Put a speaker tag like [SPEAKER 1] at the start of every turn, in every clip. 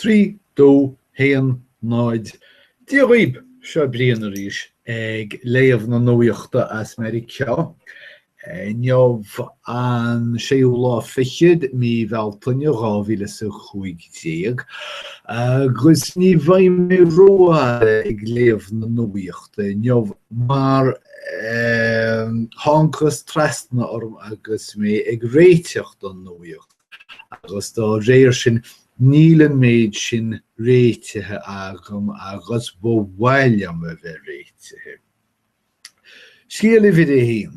[SPEAKER 1] 3, 2, 1, 0, Dia dhíb! Seo Brian arís ag léamh na nuaíochta as Meiriceá. Inniu an séú lá fichead mí Bhealtaine 2015 agus ní bheidh mé rófhada ag léamh na nuaíochta inniu mar thángthas trasna orm agus mé ag réiteach don nuaíocht. agus dá réir sin níl an méid sin réitithe agam agus ba mhaith liom a bheith réitithe. Scéal uimhir 1.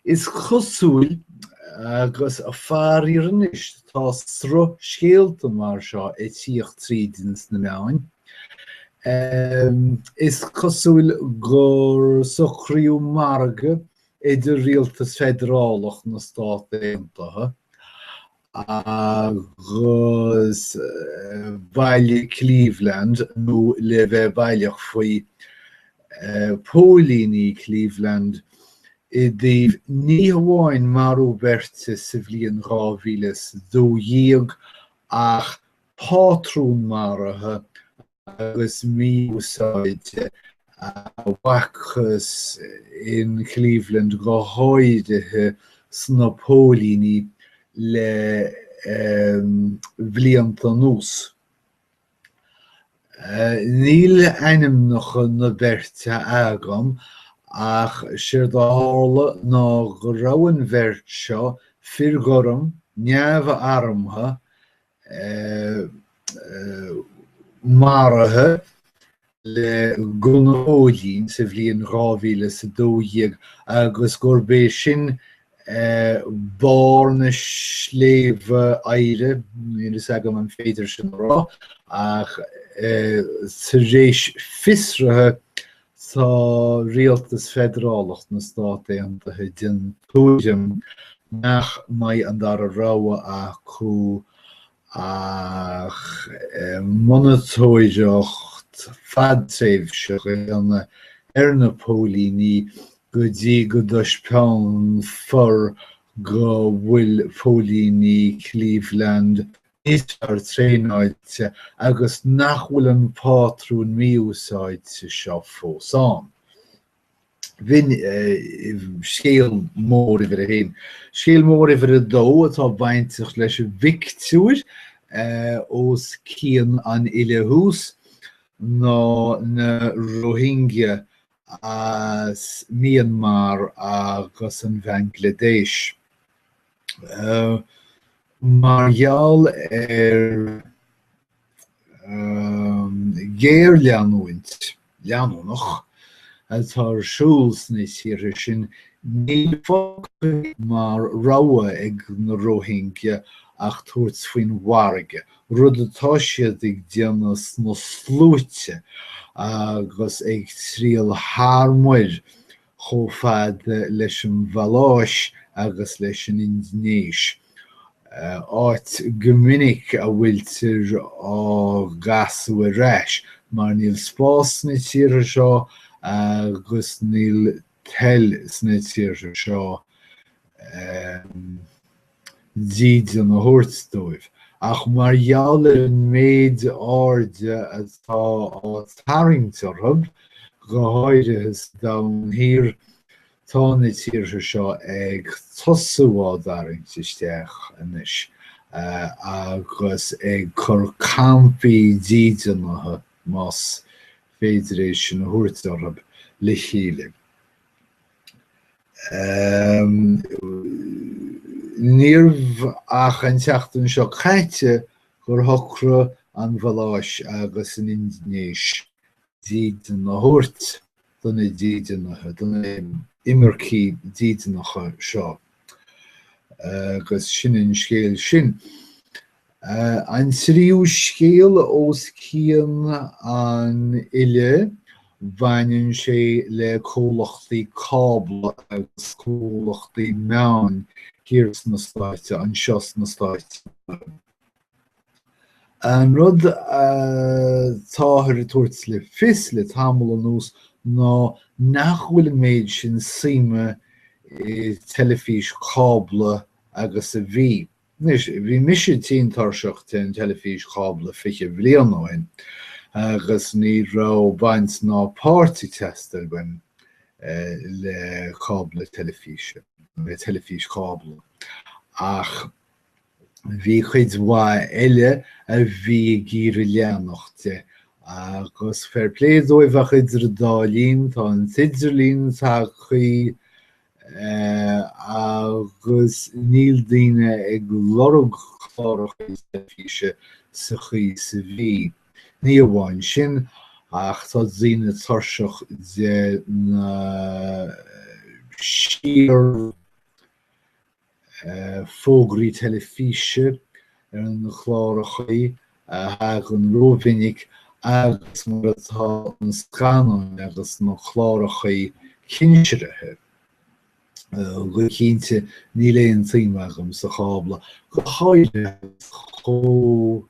[SPEAKER 1] Is cosúil agus faraor anois tá sruth scéalta mar seo ag tíocht trí sna meáin. Is cosúil gur socraíodh margadh idir rialtas feidearálach na Stát Aontaithe agus baile Cleveland nó le bheith baileach faoi, póilíní Cleveland i dtaobh ní hamháin marú beirte sa bhliain 2012 ach pátrún maraithe agus mí-úsáide a bhfacthas in Cleveland go háirithe sna póilíní le blianta anuas. Níl ainmneacha na beirte agam ach séard a tharla ná go raibh an bheirt seo, fir ghorma, neamh-armtha, maraithe le gunnaí sa bhliain 2012 agus gurb é sin barr an sléibhe oighir, níl a fhios agam an féidir sin a rá, ach tar éis fiosraithe Tá Rialtas Feidearálach na Stát Aontaithe den tuairim nach mbeidh an dara rogha acu ach monatóireacht fhadtréimhseach a dhéanamh ar na póilíní go dtí go dtaispeánfar go bhfuil póilíní Cleveland níos fearr traenáilte agus nach bhfuil an pátrún mí-úsáide seo fós ann. B'in scéal mór uimhir a haon. Scéal mór uimhir a dó atá bainteach leis an bpictiúr os cionn an fhile thuas ná na Rohingya as Myanmar agus an Bhanglaidéis. mar gheall ar ghéarleanúint leanúnach atá ar siúl sna tíortha sin, níl fágtha mar rogha ag na Rohingya ach tabhairt faoin bhfarraige, rud atá siad ag déanamh sna sluaite agus ag triall thar muir chomh fada leis an Mhaláis agus leis an Indinéis, áit go minic a bhfuiltear á gcasadh ar ais mar níl spás sna tíortha seo agus níl toil sna tíortha seo. dídean a thabhairt dóibh, ach mar gheall ar an méid airde atá á tarraingt orthu, go háirithe sa Domhan Thiar, tá na tíortha seo ag tosú á dtarraingt isteach anois agus ag cur campaí dídeanaithe, más féidir é sin a thabhairt orthu, le chéile. Níorbh ach an tseachtain seo caite gur shocraigh an Mhaláis agus an Indinéis dídean a thabhairt do na dídeanaithe, do na himircigh dídeanacha seo, agus sin an scéal sin. An tríú scéal os cionn an fhillidh, baineann sé le comhlachtaí cábla agus comhlachtaí meáin thiar sna Stáit, anseo sna Stáit. An rud atáthar ag tabhairt le fios le tamall anuas ná nach bhfuil an méid sin suime i dteilifís cábla agus a bhí. Anois, bhí mise tinn tuirseach den teilifís cábla fiche bhliain ó shin agus ní raibh baint ná páirt ag teastáil uaim le cábla teilifíse, le teilifís cábla. Ach bhí cuid mhaith eile a bhí ag iarraidh leanacht de agus fair play dóibh ach idir an dá linn tá an t-idirlíon tagtha agus níl daoine ag lorg cláracha teilifíse sa chaoi is a bhí. Ní amháin sin, ach tá daoine tuirseach de na síor, fógraí teilifíse ar na clárachaí a thagann rómhinic agus mar atá na scannáin agus na clárachaí cinsirithe. Go cinnte, níl aon tsuim agam sa chábla, go háirithe chomh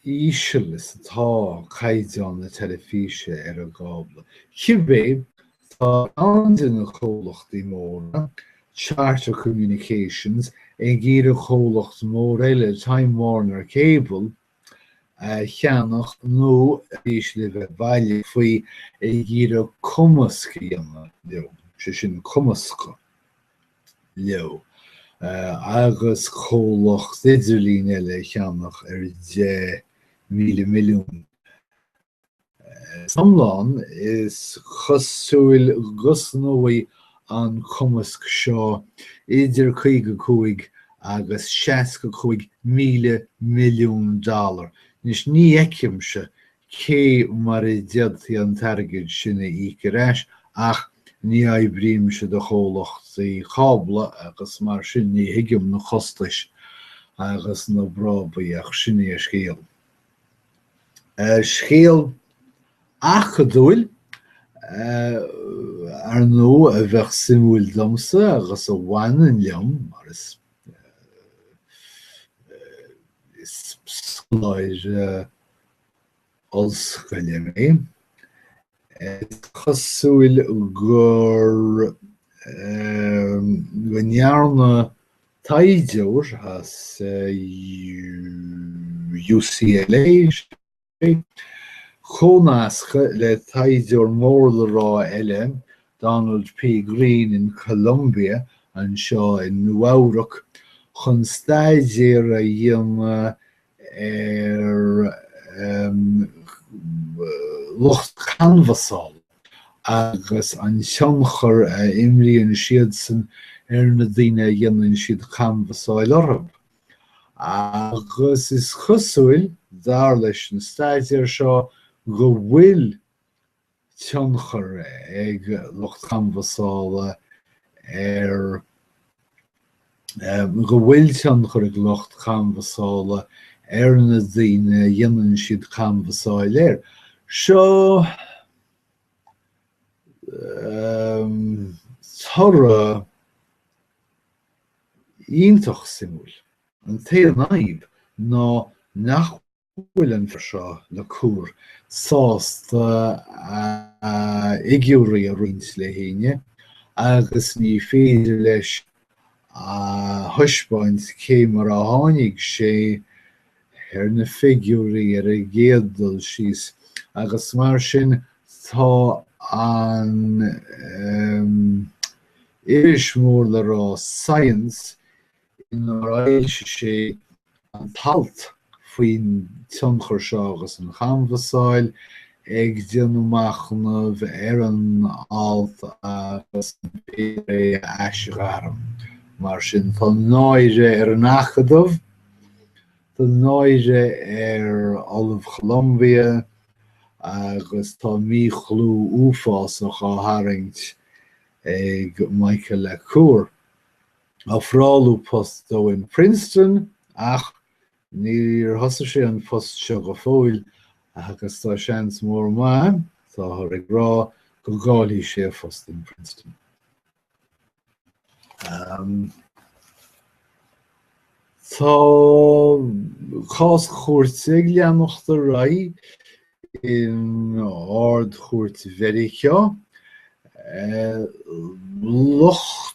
[SPEAKER 1] íseal is atá caighdeán na teilifíse ar an gcábla. Cibé, tá ceann de na comhlachtaí móra, Charter Communications, ag iarraidh comhlacht mór eile, Time Warner Cable, a cheannach nó, arís le bheith baileach faoi, ag iarraidh cumasc a dhéanamh leo, sé sin, cumascadh. leo, agus comhlacht idirlín eile a cheannach ar 10,000 milliún. San iomlán is cosúil go gcosnóidh an cumasc seo idir 55 agus 65,000 milliún dollar. Anois ní fheicimse cé mar a d'fhéadfaí an t-airgead sin a íoc ar ais ach ní oibrímse do chomhlachtaí cábla agus mar sin ní thuigim na costais agus na brábaí ach sin é an scéal. Scéal acadúil, ar ndóigh, a bheadh suimiúil domsa agus a bhaineann liom mar is scoláire ollscoile mé. Is cosúil gur go ndearna taighdeoir as UCLA comhnascadh le taighdeoir mór le rá eile, Donald P. Green in Columbia anseo i Nua-Eabhrac, chun staidéar a dhéanamh ar lucht canbhasáil agus an tionchar a imríonn siadsan ar na daoine a dhéanann siad canbhasáil orthu agus is cosúil, dar leis an staidéar seo, go bhfuil tionchar ag lucht canbhasála ar go bhfuil tionchar ag lucht canbhasála ar na daoine a dhéanann siad canbhasáil air. Seo toradh iontach suimiúil. An t-aon fhadhb ná nach bhfuil an fear seo, LaCour, sásta a fhigiúirí a roinnt le héinne agus ní féidir leis a thaispeáint cé mar a tháinig sé ar na figiúirí ar an gcéad dul síos agus mar sin tá an iris mór le rá Science inar fhoilsigh sé an t-alt faoin tionchar seo agus an chanbhasáil, ag déanamh machnaimh ar an alt agus an féidir é a aisghairm. Mar sin, tá náire ar an Acadamh, tá náire ar Ollamh Cholambia agus tá míchlú uafásach á tharraingt ag Michael LaCour. ofráladh post dó in Princeton ach níor thosaigh sé an post seo go fóill agus tá seans mór maith, táthar ag rá, go gcaillfidh sé a phost in Princeton. Um, Tá cás cúirte ag leanacht ar aghaidh in Ardchúirt Mheiriceá. Eh, Lucht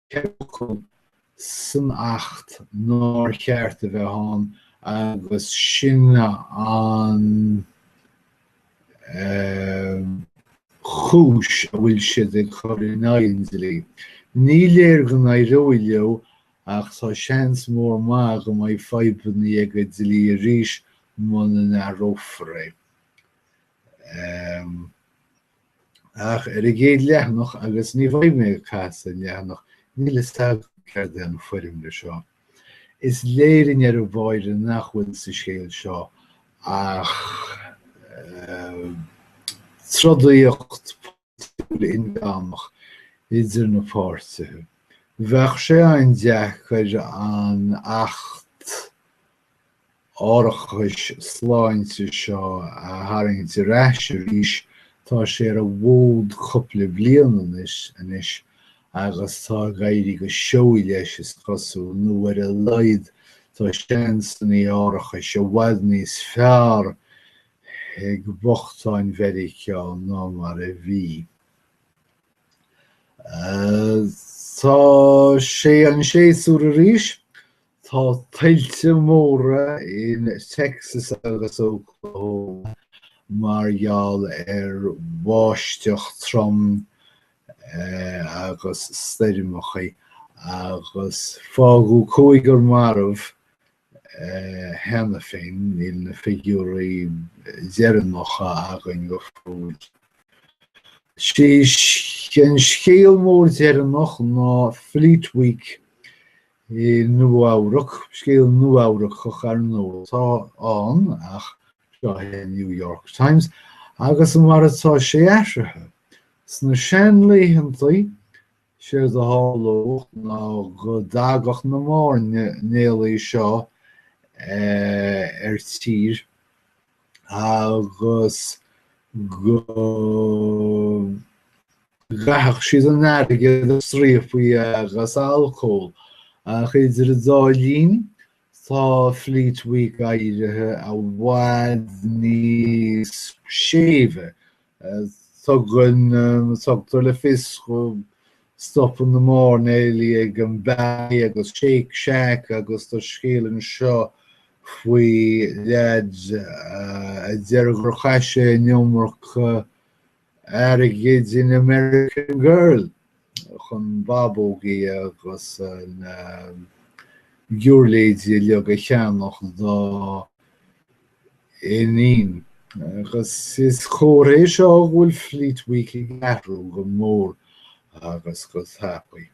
[SPEAKER 1] ceithre fhocal san Acht nár cheart a bheith ann agus sin an cúis a bhfuil siad ag cur in aghaidh an dlí. Ní léir go n-éireoidh leo ach tá seans mór maith go mbeidh fadhbannaí ag an dlí arís muna n-athrófar é. ach ar an gcéad leathanach agus ní bheidh mé ag casadh leathanach, níl fhios agam céard é an fhoirmle seo. Is léir i ndeireadh báire nach bhfuil sa scéal seo ach trodaíocht pholaitiúil idir na páirtithe. Bheadh sé an-deacair an Acht árachais sláinte seo a tharraingt ar ais arís. Tá sé ar an bhfód cupla bliain anois agus tá ag éirí go seoigh leis is cosúil, nó ar a laghad tá seansannaí árachais i bhfad níos fearr ag bochtáin Mheiriceá ná mar a bhí. Tá sé an séasúr arís Tá tuilte móra in Texas agus Oklahoma mar gheall ar bháisteach trom agus stoirmeacha agus fágadh cúigear marbh cheana féin, níl na figiúirí deireanacha againn go fóill. Is é an scéal mór deireanach ná Fleet Week i Nua-Eabhrac, scéal Nua-Eabhracach ar ndóigh atá ann ach seo an New York Times agus mar atá sé athraithe. Sna seanlaethanta, is éard a tharlaíodh ná go dtagadh na mairnéalaigh seo ar tír, agus go gcaitheadh siad an airgead ar striapacha agus alcól ach idir an dá linn tá Fleet Week éirithe i bhfad níos séimhe Tugann tugtar le fios go stopann na mairnéalaigh ag an Bay agus Shake Shack agus tá scéal anseo faoi leaid a deir gur chaith sé an iomarca airgid in American Girl. chun bábógaí agus na giúirléidí uilig a cheannach dá iníon. Agus is comhartha é seo go bhfuil Fleet Week ag athrú go mór agus go tapaidh.